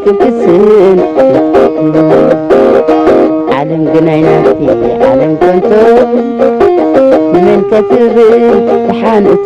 ትብስል ዓለም ግን ኣይናቲ ዓለም ከንቶ ንመን ከትብል ተሓንእቱ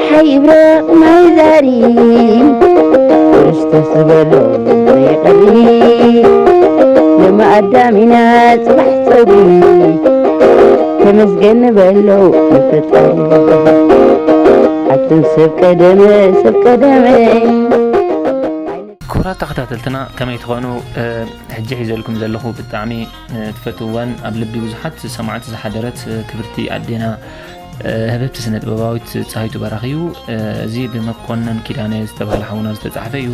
ይብረቕ ማይ ዛሪ ክርስቶስ ዝበሎ ዘይቐሪ ንማኣዳም ኢና ጽባሕ ጸጉሪ ተመስገን ንበሎ ንፈጣሪ ኣቱም ሰብ ቀደመ ሰብ ቀደመ ክቡራት ተኸታተልትና ከመይ ትኾኑ ሕጂ ሒዘልኩም ዘለኹ ብጣዕሚ ትፈትዋን ኣብ ልቢ ብዙሓት ሰማዕቲ ዝሓደረት ክብርቲ ኣዴና ህብብቲ ስነጥበባዊት ጻሂቱ በራኺ እዩ። እዚ ብመኮነን ኪዳነ ዝተባህለ ሓውና ዝተጻሕፈ እዩ።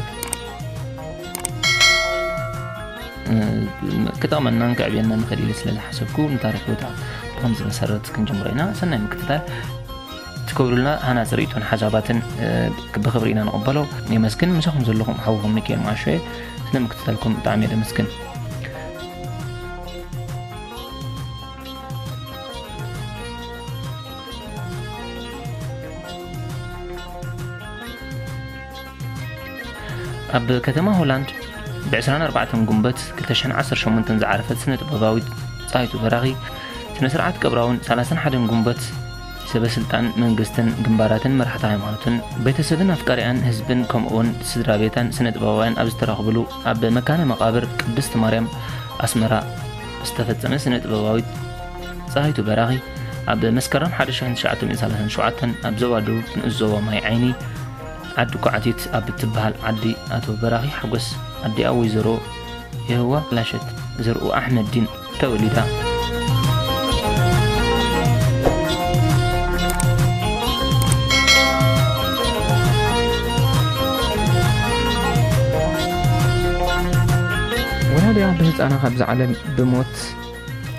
ክጠቕመናን ክዕብየናን ይኽእል ኢለ ስለ ዝሓሰብኩ ንታሪክ ቦታ ብከምዚ መሰረት ክንጅምሮ ኢና ሰናይ ምክትታል ትገብሩልና ሃናፂ ርእቶን ሓሳባትን ብክብሪ ኢና ንቕበሎ የመስግን ምሳኹም ዘለኹም ሓውኹም ሚካኤል ማሾ እየ ስለ ምክትታልኩም ብጣዕሚ እየ ደመስግን ኣብ ከተማ ሆላንድ ብ24 ጉንበት 218 ዝዓረፈት ስነ ጥበባዊት ፀሃይቱ በራኺ ስነ ስርዓት ቀብራውን 31 ጉንበት ሰበ ስልጣን መንግስትን ግንባራትን መራሕቲ ሃይማኖትን ቤተሰብን ኣፍቃሪያን ህዝብን ከምኡውን ስድራ ቤታን ስነ ጥበባውያን ኣብ ዝተረኽብሉ ኣብ መካነ መቃብር ቅድስት ማርያም ኣስመራ ዝተፈጸመ ስነ-ጥበባዊት ጸሃይቱ በራኺ ኣብ መስከረም 1937 ኣብ ዞባ ደቡብ ንኡስ ዞባ ማይ ዓይኒ ዓዲ ኳዕቲት ኣብ እትበሃል ዓዲ ኣቶ በራኺ ሓጎስ ኣዲኣ ወይዘሮ የህዋ ላሸት ዘርኡ ኣሕመዲን ተወሊዳ። ወላዲኣ ብህጻና ካብዛ ዓለም ብሞት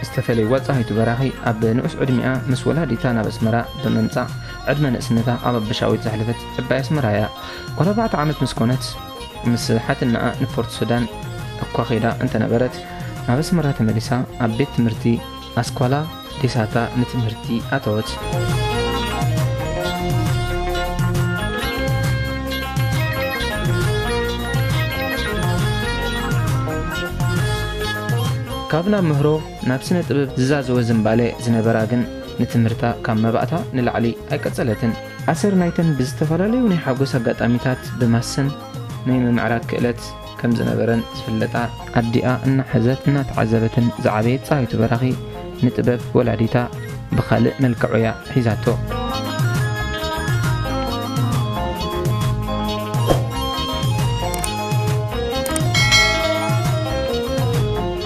ዝተፈለዩ ወጻኢቱ በራኺ ኣብ ንዑስ ዕድሚኣ ምስ ወላዲታ ናብ ኣስመራ ብምምጻእ ዕድመ ንእስነታ ኣብ ኣበሻዊት ዘሕለፈት ዕባይ ኣስመራ እያ ጓል ኣርባዕተ ዓመት ምስ ኮነት ምስ ሓትናኣ ንፖርት ሱዳን እኳ ኼዳ እንተነበረት ናብ ኣስመራ ተመሊሳ ኣብ ቤት ትምህርቲ ኣስኳላ ዴሳታ ንትምህርቲ ኣተወት። ካብ ናብ ምህሮ ናብ ስነ ጥበብ ዝዛዘወ ዝምባለ ዝነበራ ግን ንትምህርታ ካብ መባእታ ንላዕሊ ኣይቀጸለትን። ኣሰር ናይተን ብዝተፈላለዩ ናይ ሓጎስ ኣጋጣሚታት ብማሰን ናይ ምምዕራግ ክእለት ከም ዝነበረን ዝፍለጣ ኣዲኣ እናሓዘት እናተዓዘበትን ዝዓበየት ፀሃይቱ በራኺ ንጥበብ ወላዲታ ብኻልእ መልክዕ'ያ ሒዛቶ።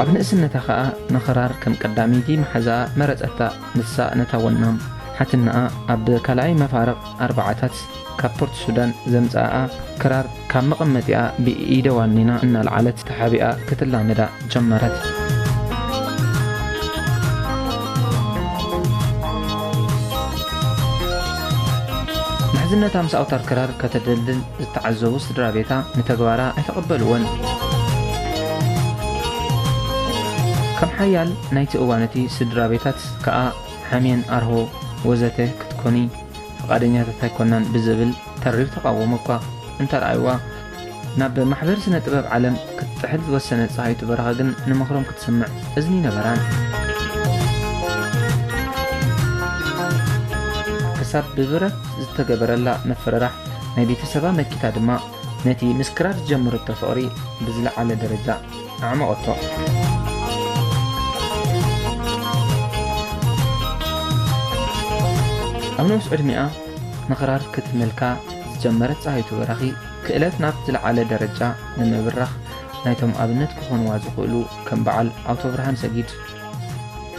ኣብ ንእስነታ ከኣ ንኽራር ከም ቀዳመይቲ መሓዛኣ መረጸታ። ንሳ ነታ ወናም ሓትነኣ ኣብ ካልኣይ መፋርቕ ኣርባዓታት ካብ ፖርት ሱዳን ዘምጽኣኣ ክራር ካብ መቐመጢኣ ብኢደ ዋኒና እናልዓለት ተሓቢኣ ክትላመዳ ጀመረት። ምሕዝነታ ምስ ኣውታር ክራር ከተደልድል ዝተዓዘቡ ስድራ ቤታ ንተግባራ ኣይተቐበልዎን። ከም ሓያል ናይቲ እዋን እቲ ስድራ ቤታት ከኣ ሓምየን ኣርሆ ወዘተ ክትኮኒ ፍቓደኛታት ኣይኮናን ብዝብል ተሪር ተቓውሞ እኳ እንተርኣዩዋ፣ ናብ ማሕበር ስነ ጥበብ ዓለም ክትጥሕል ዝወሰነት ፀሃይቱ በረኸ ግን ንምኽሮም ክትሰምዕ እዝኒ ነበራን። ክሳብ ብብረት ዝተገበረላ ምፍርራሕ ናይ ቤተሰባ መኪታ ድማ ነቲ ምስ ክራር ዝጀመረቶ ፍቕሪ ብዝለዓለ ደረጃ ኣዕመቐቶ። ኣብ ንኡስ ዕድሚኣ ምቕራር ክትምልካ ዝጀመረት ፀሃይቱ በራኺ ክእለት ናብ ዝለዓለ ደረጃ ንምብራኽ ናይቶም ኣብነት ክኾንዋ ዝኽእሉ ከም በዓል ኣውቶብርሃን ሰጊድ፣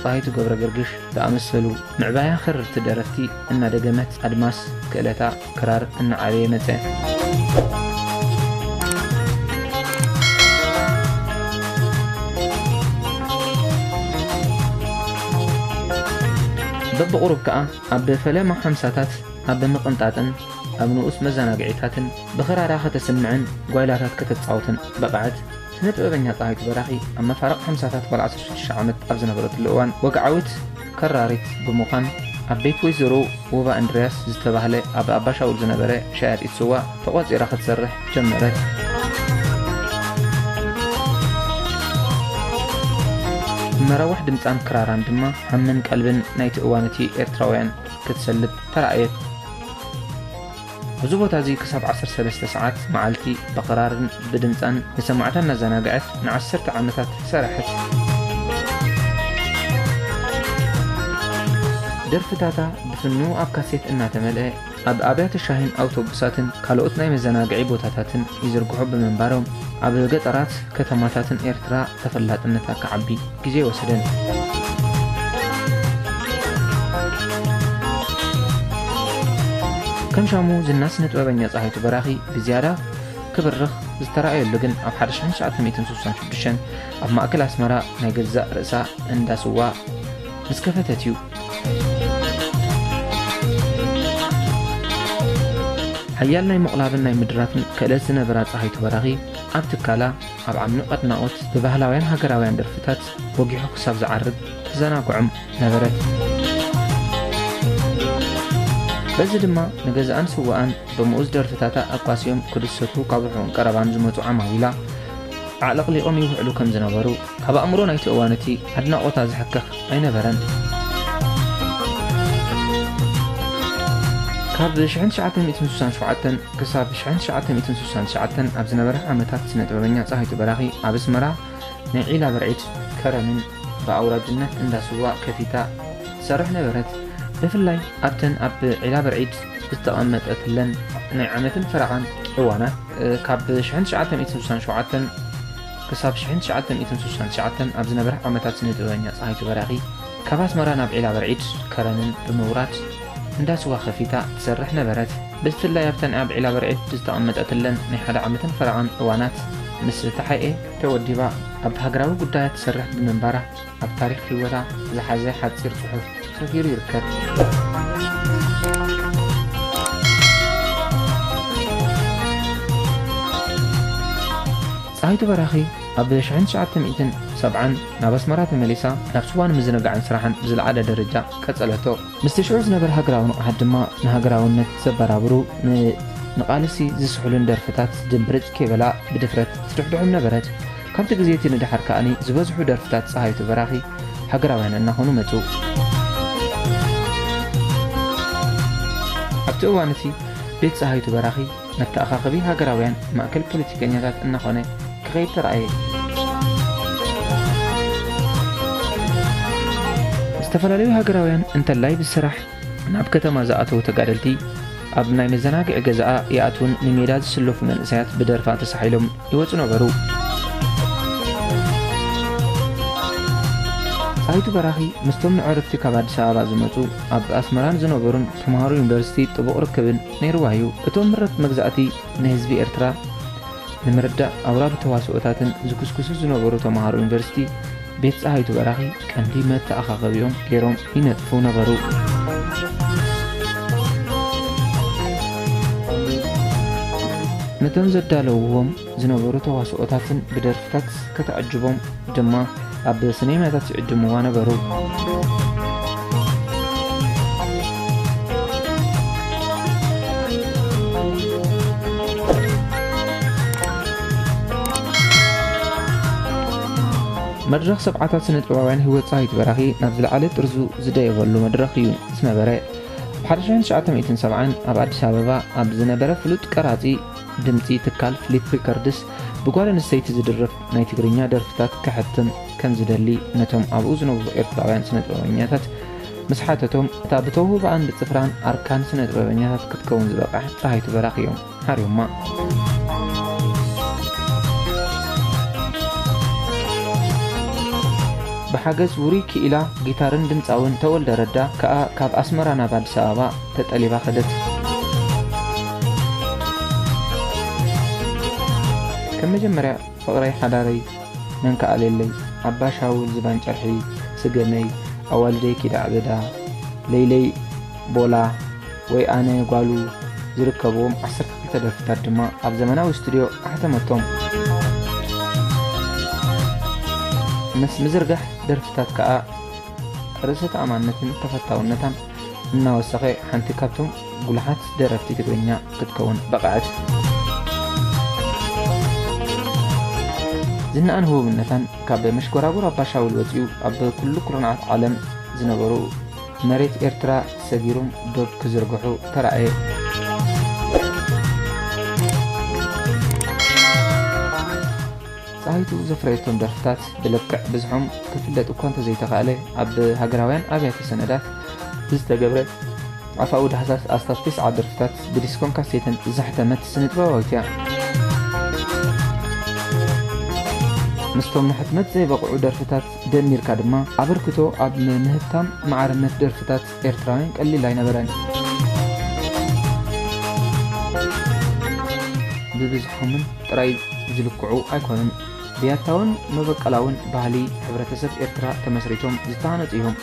ፀሃይቱ ገብረገርግሽ ዝኣመሰሉ ምዕባያ ክርርቲ ደረፍቲ እናደገመት ኣድማስ ክእለታ ክራር እናዓበየ መጸ። በብቝሩብ ከኣ ኣብ ፈለማ ሓምሳታት ኣብ ምቕንጣጥን ኣብ ንኡስ መዘናግዒታትን ብኽራራ ከተስምዕን ጓይላታት ከተጻውትን በቕዐት። ስነ-ጥበበኛ ጸሃይቱ በራኺ ኣብ መፋርቕ ሓምሳታት ጓል ዓሰርተ ሽዱሽተ ዓመት ኣብ ዝነበረትሉ እዋን ወግዓዊት፣ ከራሪት ብምዃን ኣብ ቤት ወይዘሮ ውባ እንድርያስ ዝተባህለ ኣብ ኣባሻውል ዝነበረ ሸያጢት ስዋ ተቖጺራ ክትሰርሕ ጀመረት። መራዋሕ ድምጻን ክራራን ድማ ሃምን ቀልብን ናይቲ እዋን እቲ ኤርትራውያን ክትሰልብ ተራእየት። እዚ ቦታ እዚ ክሳብ ዓሰርተ ሰለስተ ሰዓት መዓልቲ ብኽራርን ብድምጻን ንሰማዕታ እናዘናግዐት ንዓሰርተ ዓመታት ሰረሐት። ደርፍታታ ብፍኑው ኣብ ካሴት እናተመልአ ኣብ ኣብያተ ሻሂን ኣውቶቡሳትን ካልኦት ናይ መዘናግዒ ቦታታትን ይዝርግሑ ብምንባሮም ኣብ ገጠራት ከተማታትን ኤርትራ ተፈላጥነታ ክዓቢ ግዜ ኣይወሰደን። ከም ሻሙ ዝና ስነ ጥበበኛ ፀሃይቱ በራኺ ብዝያዳ ክብርኽ ዝተረኣየሉ ግን ኣብ 1966 ኣብ ማእከል ኣስመራ ናይ ገዛእ ርእሳ እንዳ ስዋ ምስ ከፈተት እዩ ሓያል ናይ ምቕላብን ናይ ምድራፍን ክእለት ዝነበራ ፀሃይቱ በራኺ ኣብ ትካላ ኣብ ዓሚቕ ኣድናቖት ብባህላውያን ሃገራውያን ደርፍታት ወጊሑ ክሳብ ዝዓርብ ተዘናግዖም ነበረት። በዚ ድማ ንገዛኣን ስዋኣን ብምኡዝ ደርፍታታ ኣቋሲዮም ክድሰቱ ካብ ርሑቕን ቀረባን ዝመጹ ዓማዊላ ኣዕለቕሊቖም ይውዕሉ ከም ዝነበሩ ኣብ ኣእምሮ ናይቲ እዋን እቲ ኣድናቖታ ዝሕከኽ ኣይነበረን። ካብ 1967 ክሳብ 1969 ኣብ ዝነበረ ዓመታት ስነ ጥበበኛ ፀሃይቱ በራኺ ኣብ ኣስመራ ናይ ዒላ በርዒድ ከረንን ብኣውራጅነት እንዳ ስዋ ከፊታ ትሰርሕ ነበረት ብፍላይ ኣብተን ኣብ ዒላ በርዒድ ዝተቐመጠትለን ናይ ዓመትን ፈረቓን እዋናት ካብ 1967 ክሳብ ሽሕን ትሽዓተ ሚእትን ስሳን ትሽዓተን ኣብ ዝነበረ ዓመታት ስነ-ጥበበኛ ጸሃይቱ በራኺ ካብ ኣስመራ ናብ ዒላበርዒድ፣ ከረንን፣ ብምውራድ እንዳ ስዋ ከፊታ ትሰርሕ ነበረት። ብፍላይ ኣብተን ኣብ ዒላበርዒድ ዝተቐመጠትለን ናይ ሓደ ዓመትን ፈረቓን እዋናት ምስ ተሓኤ ተወዲባ ኣብ ሃገራዊ ጉዳያት ትሰርሕ ብምንባራ፣ ኣብ ታሪኽ ህይወታ ዝሓዘ ሓጺር ጽሑፍ ሰፊሩ ይርከብ። ጸሃይቱ በራኺ ኣብ ሽሕን ትሽዓተ ሚእትን ሰብዓን ናብ ኣስመራ ተመሊሳ ናብ ስዋን ምዝንጋዕን ስራሓን ብዝለዓለ ደረጃ ቀጸለቶ። ምስቲ ሽዑ ዝነበረ ሃገራዊ ንቕሓት ድማ ንሃገራውነት ዘበራብሩ ንቓልሲ ዝስሕሉን ደርፍታት ድምብርጽ ከይበላ ብድፍረት ትድሕድሖም ነበረት። ካብቲ ግዜ እቲ ንደሓር ከኣ ዝበዝሑ ደርፍታት ጸሃይቱ በራኺ ሃገራውያን እናኾኑ መጹ። ኣብቲ እዋን እቲ ቤት ጸሃይቱ በራኺ መተኣኻኸቢ ሃገራውያን ማእከል ፖለቲከኛታት እናኾነ ክኸይድ ተራእየ። ዝተፈላለዩ ሃገራውያን እንተላይ ብስራሕ ናብ ከተማ ዝኣተዉ ተጋደልቲ ኣብ ናይ መዘናግዒ ገዛኣ ይኣትዉን ንሜዳ ዝስለፉ መንእሰያት ብደርፋ ተሳሒሎም ይወጹ ነበሩ። ጣይቱ በራኺ ምስቶም ንዕርፍቲ ካብ ኣዲስ ኣበባ ዝመጹ ኣብ ኣስመራን ዝነበሩን ተምሃሮ ዩኒቨርሲቲ ጥቡቕ ርክብን ነይርዋ እዩ። እቶም ምረት መግዛእቲ ንህዝቢ ኤርትራ ንምርዳእ ኣውራሪ ተዋስኦታትን ዝኩስኩሱ ዝነበሩ ተምሃሮ ዩኒቨርሲቲ ቤት ጸሃይቱ በራኺ ቀንዲ መተኣኻኸቢኦም ገይሮም ይነጥፉ ነበሩ። ነቶም ዘዳለውዎም ዝነበሩ ተዋስኦታትን ብደርፍታት ከተዕጅቦም ድማ ኣብ ስኔማታት ይዕድምዋ ነበሩ። መድረኽ ሰብዓታት ስነጥበባውያን ህይወት ጻዊት በራኺ ናብ ዝለዓለ ጥርዙ ዝደየበሉ መድረኽ እዩ ዝነበረ። ኣብ 1970 ኣብ ኣዲስ ኣበባ ኣብ ዝነበረ ፍሉጥ ቀራጺ ድምጺ ትካል ፍሊፕ ሪከርድስ ብጓል ኣንስተይቲ ዝድርፍ ናይ ትግርኛ ደርፍታት ከሕትም ከም ዝደሊ ነቶም ኣብኡ ዝነብሩ ኤርትራውያን ስነጥበበኛታት ምስ ሓተቶም፣ እታ ብተውህቦኣን ብጽፍራን ኣርካን ስነጥበበኛታት ክትከውን ዝበቕዐ ጸሃይቱ በራኺ እዮም ሓርዮማ። ብሓገዝ ውሩይ ክኢላ ጊታርን ድምጻውን ተወልደ ረዳ ከኣ ካብ ኣስመራ ናብ ኣዲስ ኣበባ፣ ተጠሊባ ከደት። ከም መጀመርያ ፍቕረይ ሓዳረይ መን ክኣልየለይ ኣባ ሻውል ዝባን ጨርሒ ስገመይ ኣዋልደይ ኪድ ኣዕበዳ ለይለይ ቦላ ወይ ኣነ ጓሉ ዝርከብዎም ዓሰርተ ክልተ ደርፍታት ድማ ኣብ ዘመናዊ ስቱድዮ ኣሕተመቶም። ምስ ምዝርጋሕ ደርፍታት ከኣ ርእሰ ተኣማንነትን ተፈታውነታን እናወሰኸ ሓንቲ ካብቶም ጉሉሓት ደረፍቲ ትግርኛ ክትከውን በቐዐት። ዝናኣን ህቡብነታን ካብ መሽጎራጉር ኣባ ሻውል ወጺኡ ኣብ ኩሉ ኩርናዓት ዓለም ዝነበሩ መሬት ኤርትራ ሰጊሩም ዶብ ክዝርግሑ ተራእየ። ጸሃይቱ ዘፍረየቶም ደርፍታት ብልክዕ ብዝሖም ክፍለጥ እኳ እንተዘይተኻእለ፣ ኣብ ሃገራውያን ኣብያተ ሰነዳት ብዝተገብረ ኣፋዊ ዳህሳስ ኣስታት ተስዓ ደርፍታት ብዲስኮን ካሴተን ዘሕተመት ስነጥበባዊት እያ። ምስቶም ንሕትመት ዘይበቕዑ ደርፍታት ደሚርካ ድማ ኣበርክቶ ኣብ ምህብታም ማዕርነት ደርፍታት ኤርትራውያን ቀሊል ኣይነበረን። ብብዝሖምን ጥራይ ዝልክዑ ኣይኮኑን። ብያታውን መበቀላውን ባህሊ ሕብረተሰብ ኤርትራ ተመስሪቶም ዝተሃነጹ እዮም።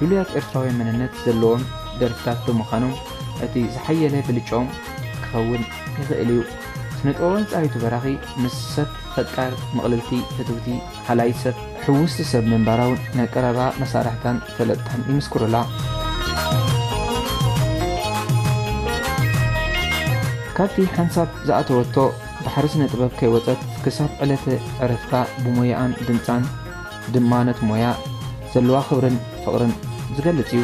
ልሉያት ኤርትራውያን መንነት ዘለዎም ደርፍታት ብምኻኖም እቲ ዝሓየለ ብልጭኦም ክኸውን ይኽእል እዩ። ስነጥበባዊን ጸሃይቱ በራኺ ምስ ሰብ ፈቃር ምቕልልቲ ፍትውቲ ሃላዪት ሰብ ሕውስቲ ሰብ ምንባራ'ውን ናይ ቀረባ መሳርሕታን ፈለጥታን ይምስክሩላ። ካብቲ ሓንሳብ ዝኣተወቶ ባሕሪ ስነ-ጥበብ ከይወጸት ክሳብ ዕለተ ዕረፍታ ብሞያኣን ድምጻን ድማ ነቲ ሞያ ዘለዋ ክብርን ፍቕርን ዝገልጽ እዩ።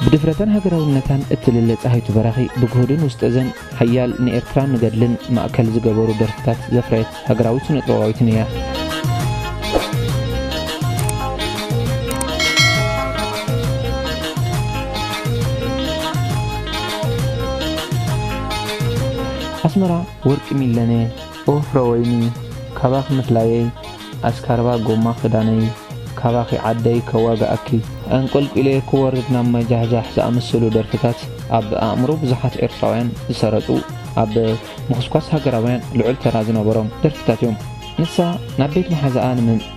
ብድፍረታን ሃገራውነታን እትልለ ጸሃይቱ በራኺ ብግሁድን ውስጠዘን ሓያል ንኤርትራን ንገድልን ማእከል ዝገበሩ ደርፍታት ዘፍረየት ሃገራዊት ስነጥበባዊትን እያ። ኣስመራ ወርቂ ሚለነ ኦፍረ ወይኒ ካባኺ ምፍላየይ ኣስካርባ ጎማ ክዳነይ ካባኺ ዓደይ ከዋግኣኪ ኣንቆልቊለ ክወርድ ናብ ማይ ጃሕጃሕ ዝኣመሰሉ ደርፍታት ኣብ ኣእምሮ ብዙሓት ኤርትራውያን ዝሰረጹ ኣብ ምኹስኳስ ሃገራውያን ልዑል ተራ ዝነበሮም ደርፍታት እዮም። ንሳ ናብ ቤት መሓዛኣ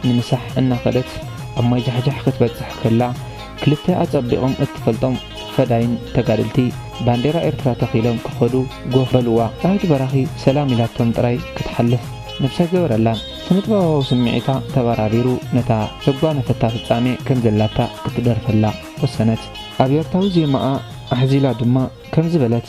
ንምሳሕ እናኸደት ኣብ ማይ ጃሕጃሕ ክትበጽሕ ከላ፣ ክልተ ኣጸቢቖም እትፈልጦም ፈዳይን ተጋደልቲ ባንዴራ ኤርትራ ተኺሎም ክኸዱ ጎፍ በሉዋ። ዳዊት በራኺ ሰላም ኢላቶም ጥራይ ክትሓልፍ ነብሲ ኣይገበረላን። ስነጥበባዊ ስምዒታ ተበራቢሩ ነታ ዘጓነፈታ ፍጻሜ ከም ዘላታ ክትደርፈላ ወሰነት። ኣብ ኤርታዊ ዜማኣ ኣሕዚላ ድማ ከምዚ በለት።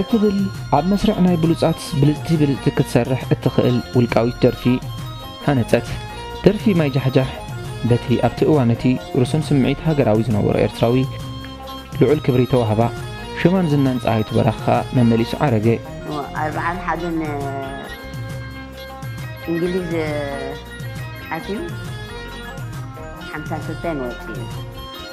እትብል ኣብ መስርዕ ናይ ብሉጻት ብልጽቲ ብልጽቲ ክትሰርሕ እትኽእል ውልቃዊት ደርፊ ሃነጸት። ደርፊ ማይ ጃሕጃሕ በቲ ኣብቲ እዋን እቲ ርሱን ስምዒት ሃገራዊ ዝነበሮ ኤርትራዊ ልዑል ክብሪ ተዋህባ። ሽማን ዝናን ጸሃይቱ በራኺ ከኣ መመሊሱ ዓረገ። ኣርብዓን ሓደን እንግሊዝ ኣትዩ ሓምሳን ክልተን ወጺኡ።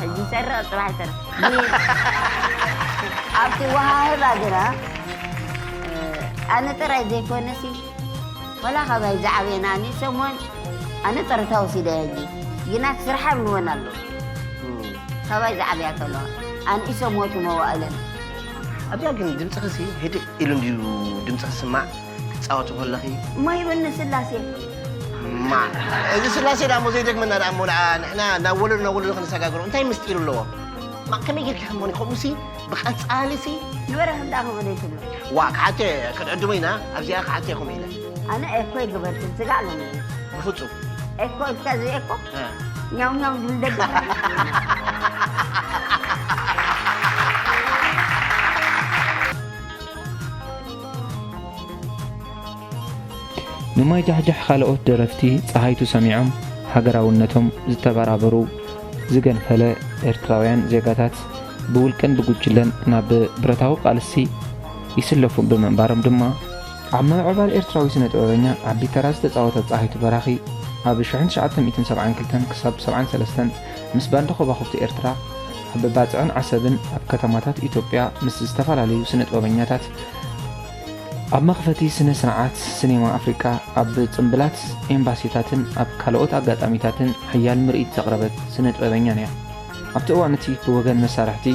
ሕጂ ይሰርቕ ጽባሕ ይሰርቕ ኣብቲ ወሃህባ ግና ኣነ ጥራይ ዘይኮነሲ ወላ ካባይ ዝዓበየ ናኒ ሰሞን ኣነ ጥርታ ወሲደ ሕጂ ግና ስርሓ ብልወን ኣሎ ካባይ ዝዓበያ ከለዋ ኣንኢሶ ሞቱ መዋእለን ኣብያ ግን ድምፅኽሲ ህድእ ኢሉ እንድዩ ድምፅኺ ስማዕ ክትጻወቲ ኮለኺ። ማይ በኒ ስላሴ። ማእ እዚ ስላሴ ድኣሞ ዘይደግመና ድኣሞ ድኣ ንሕና ናብ ወለዶ ናብ ወለዶ ክንሰጋግሮ እንታይ ምስጢር ኣለዎ? ማእ ከመይ ጌርኪ ከምኡ ከምኡሲ ብቐጻሊሲ ንበረኸት ድኣ ከምኡ ዘይትብሎ። ዋእ ክሓቶ እየ ክንዕድሞ ኢና ኣብዚኣ ክሓቶ እየ ከምኡ ኢለ። ኣነ ኤኮ ኣይገበርክን ስጋዕ ሎሚ። ብፍጹም። ኤኮ ኢልካ እዚ ኤኮ ኛው ኛው ዝብል ደገ ንማይ ጃሕጃሕ ኻልኦት ደረፍቲ ጸሃይቱ ሰሚዖም ሃገራውነቶም ዝተበራበሩ ዝገንፈለ ኤርትራውያን ዜጋታት ብውልቅን ብጉጅለን ናብ ብረታዊ ቃልሲ ይስለፉ ብምንባሮም ድማ፣ ኣብ ምምዕባል ኤርትራዊ ስነ-ጥበበኛ ዓቢ ተራ ዝተጻወተት ጸሃይቱ በራኺ፣ ኣብ ሽሕን ትሽዓተ ሚእትን ሰብዓን ክልተን ክሳብ ሰብዓን ሰለስተን ምስ ባንድ ኾባኹብቲ ኤርትራ ኣብ ባጽዕን ዓሰብን ኣብ ከተማታት ኢትዮጵያ ምስ ዝተፈላለዩ ስነ-ጥበበኛታት ኣብ መኽፈቲ ስነ ስርዓት ስኔማ ኣፍሪቃ ኣብ ጽምብላት ኤምባሲታትን ኣብ ካልኦት ኣጋጣሚታትን ሓያል ምርኢት ዘቕረበት ስነ ጥበበኛን እያ። ኣብቲ እዋን እቲ ብወገን መሳርሕቲ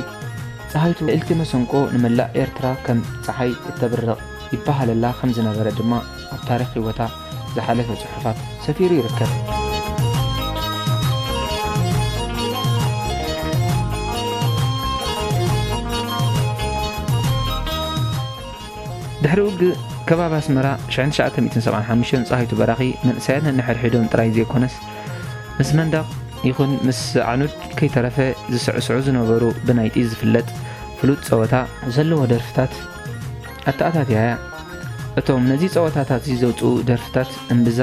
ጸሃይቱ ልእልቲ መሰንቆ ንመላእ ኤርትራ ከም ጸሓይ እተብርቕ ይበሃለላ ከም ዝነበረ ድማ ኣብ ታሪኽ ህይወታ ዝሓለፈ ጽሑፋት ሰፊሩ ይርከብ። ድሕሪ ውግእ ከባቢ ኣስመራ 1975 ፀሃይቱ በራኺ መንእሰያት ነንሕድሕዶም ጥራይ ዘይኮነስ ምስ መንደቕ ይኹን ምስ ዓኑድ ከይተረፈ ዝስዕስዑ ዝነበሩ ብናይ ጢዝ ዝፍለጥ ፍሉጥ ፀወታ ዘለዎ ደርፍታት ኣተኣታትያ እቶም ነዚ ጸወታታትዚ ዘውጽኡ ደርፍታት እምብዛ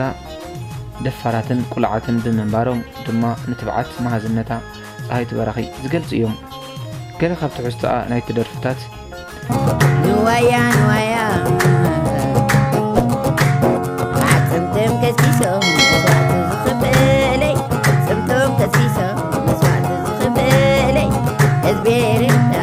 ደፋራትን ቁሉዓትን ብምንባሮም ድማ ንትብዓት መሃዝነታ ጸሃይቱ በራኺ ዝገልጹ እዮም። ገለ ካብ ትሕዝቶኣ ናይቲ ደርፍታት ንበል። ንዋያ ንዋያ ኣጽምቶም ከሲሶም መስዋእቲ ዝኽፍለይ ጽምቶም ከሲሶም መስዋእቲ ዝኽፍለይ ህዝቢ ኤርትራ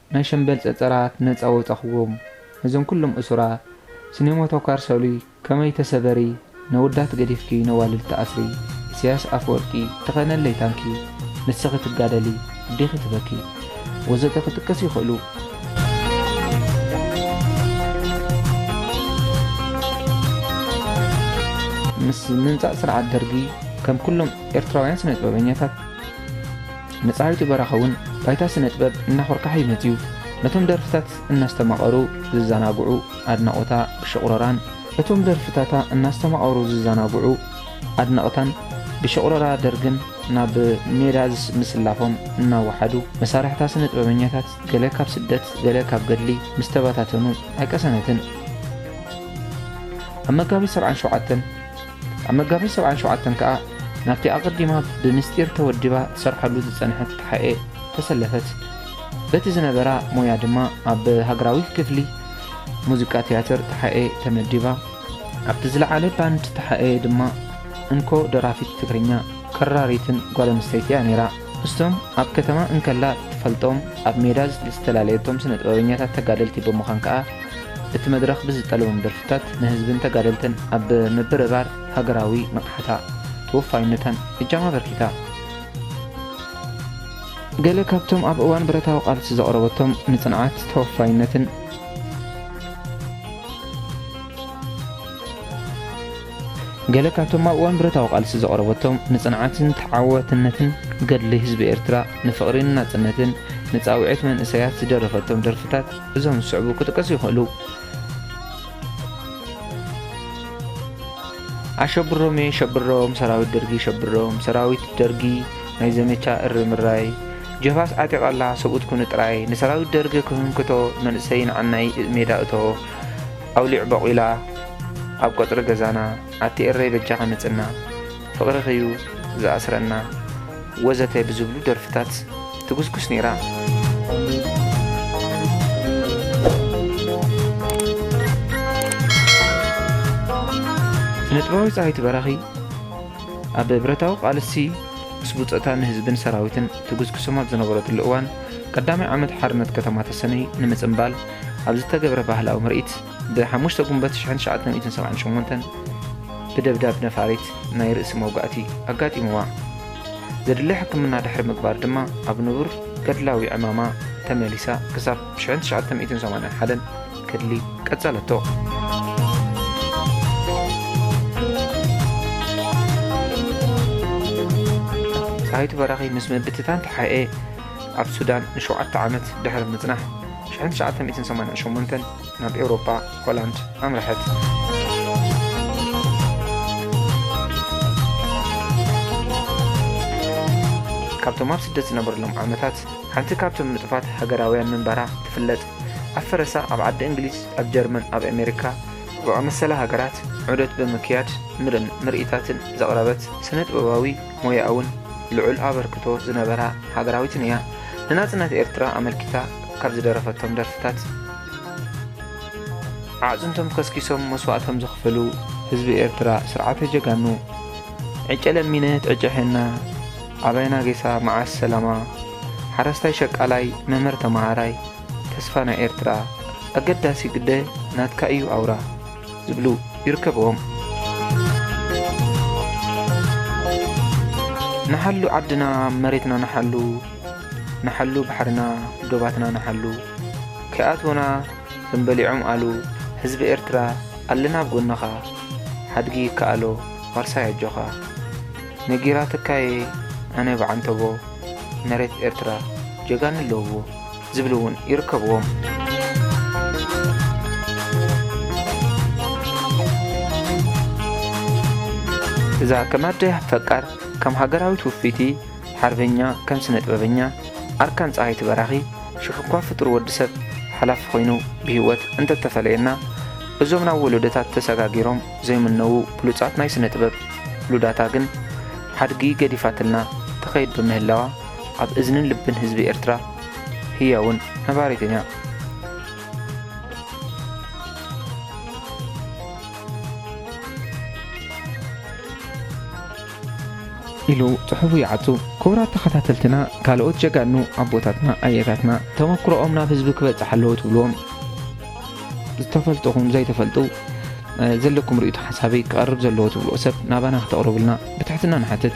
ናይ ሸምበል ጸጸራት ነጻ ወጻኹዎም ነዞም ኩሎም እሱራት ስኔሞቶካር ሰሉይ ከመይ ተሰበሪ ነወዳት ገዲፍኪ ነዋልድ ትኣስሪ ኢሰያስ ኣፈወርቂ ተኸነለይ ታንኪ ንስኺ ትጋደሊ ኣዴኺ ትበኪ ወዘተ ክጥቀስ ይኽእሉ። ምስ ምምጻእ ስርዓት ደርጊ ከም ኩሎም ኤርትራውያን ስነጥበበኛታት፣ መጻርይቱ በራኸ ውን ባይታ ስነጥበብ እናኾርካሐ'ዩ መጺኡ። ነቶም ደርፍታት እናስተማቐሩ ዝዛናግዑ ኣድናቖታ ብሽቑረራን፣ እቶም ደርፍታታ እናስተማቐሩ ዝዛናግዑ ኣድነቕታን ብሽቑረራ ደርግን ናብ ሜዳ ምስላፎም እናወሓዱ፣ መሳርሕታ ስነጥበበኛታት ገለ ካብ ስደት ገለ ካብ ገድሊ ምስ ተበታተኑ ኣይቀሰነትን። ኣብ መጋቢት ሰብዓን ሸውዓተን፣ ኣብ መጋቢት ሰብዓን ሸውዓተን ከኣ ናብቲ ኣቐዲማ ብምስጢር ተወዲባ ትሰርሓሉ ዝጸንሐት ተሓኤ ተሰለፈት። በቲ ዝነበራ ሞያ ድማ ኣብ ሃገራዊ ክፍሊ ሙዚቃ ትያትር ተሓኤ ተመዲባ። ኣብቲ ዝለዓለ ባንድ ተሓኤ ድማ እንኮ ደራፊት ትግርኛ፣ ከራሪትን ጓል ኣንስተይቲ'ያ ነይራ። እስቶም ኣብ ከተማ እንከላ እትፈልጦም ኣብ ሜዳ ዝተላለየቶም ስነጥበበኛታት ተጋደልቲ ብምዃን ከኣ እቲ መድረኽ ብዝጠለቦም ደርፍታት ንህዝብን ተጋደልትን ኣብ ምብርባር ሃገራዊ ንቕሓታ ተወፋይነታን እጃማ ኣበርኪታ። ገለ ካብቶም ኣብ እዋን ብረታዊ ቃልሲ ዘቕረበቶም ንጽንዓት፣ ተወፋይነትን፣ ገለ ካብቶም ኣብ እዋን ብረታዊ ቃልሲ ዘቕረበቶም ንጽንዓትን ተዓዋትነትን ገድሊ ህዝቢ ኤርትራ፣ ንፍቕሪን ናጽነትን፣ ንጻውዒት መንእሰያት ዝደረፈቶም ደርፍታት እዞም ዝስዕቡ ክጥቀሱ ይኽእሉ። ኣሸብሮምየ ሸብሮም ሰራዊት ደርጊ ሸብሮም ሰራዊት ደርጊ ናይ ዘመቻ እሪ ምራይ ጀፋስ ዓጢቓላ ሰብኡት ኩኑ ጥራይ ንሰራዊት ደርጊ ክህንክቶ መንእሰይ ንዓናይ ሜዳ እቶ ኣውሊዕ ቦቂላ ኣብ ቀጽሪ ገዛና ኣቲ ኤረይ በጃኺ ምጽና ፍቅርኺ'ዩ ዝኣስረና ወዘተ ብዝብሉ ደርፍታት ትጉስጉስ ኔራ። ስነጥበባዊት ጸሃይቱ በራኺ ኣብ ብረታዊ ቃልሲ ምስ ቡጸታ ንህዝብን ሰራዊትን ትጉስጉሶም ኣብ ዝነበረትሉ እዋን ቀዳማይ ዓመት ሓርነት ከተማ ተሰነይ ንምጽንባል ኣብ ዝተገብረ ባህላዊ ምርኢት ብ ሓሙሽተ ጉንበት ትሽዓን ትሽዓተ ሚእትን ሰብዓን ሸሞንተን ብደብዳብ ነፋሪት ናይ ርእሲ መውጋእቲ ኣጋጢምዋ። ዘድሊ ሕክምና ድሕሪ ምግባር ድማ ኣብ ንቡር ገድላዊ ዕማማ ተመሊሳ ክሳብ ብ ሽሕን ትሽዓተ ሚእትን ሰማንያን ሓደን ገድሊ ቀጸለቶ። ጸሃይቱ በራኺ ምስ ምብትታን ተሓኤ፣ ኣብ ሱዳን ንሸውዓተ ዓመት ድሕሪ ምጽናሕ፣ ሽሕን ትሽዓተ ሚእትን ሰማንያን ሸሞንተን ናብ ኤውሮጳ፣ ሆላንድ፣ ኣምርሐት። ካብቶም ኣብ ስደት ዝነበርሎም ዓመታት ሓንቲ ካብቶም ንጡፋት ሃገራውያን ምንባራ ትፍለጥ። ኣብ ፈረሳ ኣብ ዓዲ እንግሊዝ፣ ኣብ ጀርመን፣ ኣብ ኣሜሪካ ዝኣመሰላ ሃገራት ዑደት ብምክያድ ምርኢታትን ዘቕረበት ስነ ጥበባዊ ሞያኡን ልዑል ኣበርክቶ ዝነበራ ሃገራዊትን እያ። ንናጽነት ኤርትራ ኣመልኪታ ካብ ዝደረፈቶም ደርፍታት። ኣዕጽምቶም ከስኪሶም መስዋእቶም ዘኽፈሉ ህዝቢ ኤርትራ ስርዓተ ጀጋኑ፣ ዕጨ ለሚነት ዕጨ ሔና፣ ኣባይና ጌሳ መዓስ ሰላማ፣ ሓረስታይ ሸቃላይ መምህር ተመሃራይ፣ ተስፋ ናይ ኤርትራ፣ ኣገዳሲ ግደ ናትካ እዩ ኣውራ። ዝብሉ ይርከብዎም። ንሓሉ ዓድና መሬትና ንሓሉ ንሓሉ ባሕርና ዶባትና ንሓሉ ከይኣትዉና ከም በሊዖም ኣሉ ህዝቢ ኤርትራ ኣለና ኣብ ጎንኻ ሓድጊ ይከኣሎ ዋርሳይ ኣጆኻ ነጊራትካየ ኣነ ብዓንተቦ መሬት ኤርትራ ጀጋኑ ኣለዉዎ። ዝብሉ እውን ይርከብዎም። እዛ ከም ኣደ ፈቃር ከም ሃገራዊት ውፍይቲ ሓርበኛ ከም ስነ ጥበበኛ ኣርካን ፀሃይቲ በራኺ ሽሕ እኳ ፍጡር ወዲ ሰብ ሓላፊ ኮይኑ ብህይወት እንተተፈለየና እዞም ናብ ወለዶታት ተሰጋጊሮም ዘይምነዉ ብሉፃት ናይ ስነ ጥበብ ሉዳታ ግን ሓድጊ ገዲፋትልና ተኸይድ ብምህላዋ ኣብ እዝንን ልብን ህዝቢ ኤርትራ ህያውን ነባሪትን እያ። ኢሉ ጽሑፉ ይዓጹ። ክቡራት ተኸታተልትና ካልኦት ጀጋኑ ኣቦታትና ኣያታትና ተመኩሮኦም ናብ ህዝቢ ክበጽሕ ኣለዎ ትብልዎም ዝተፈልጥኹም ዘይተፈልጡ ዘለኩም ርእይቶ ሓሳበይ ክቐርብ ዘለዎ ትብልዎ ሰብ ናባና ክተቕርቡልና ብትሕትና ንሓትት።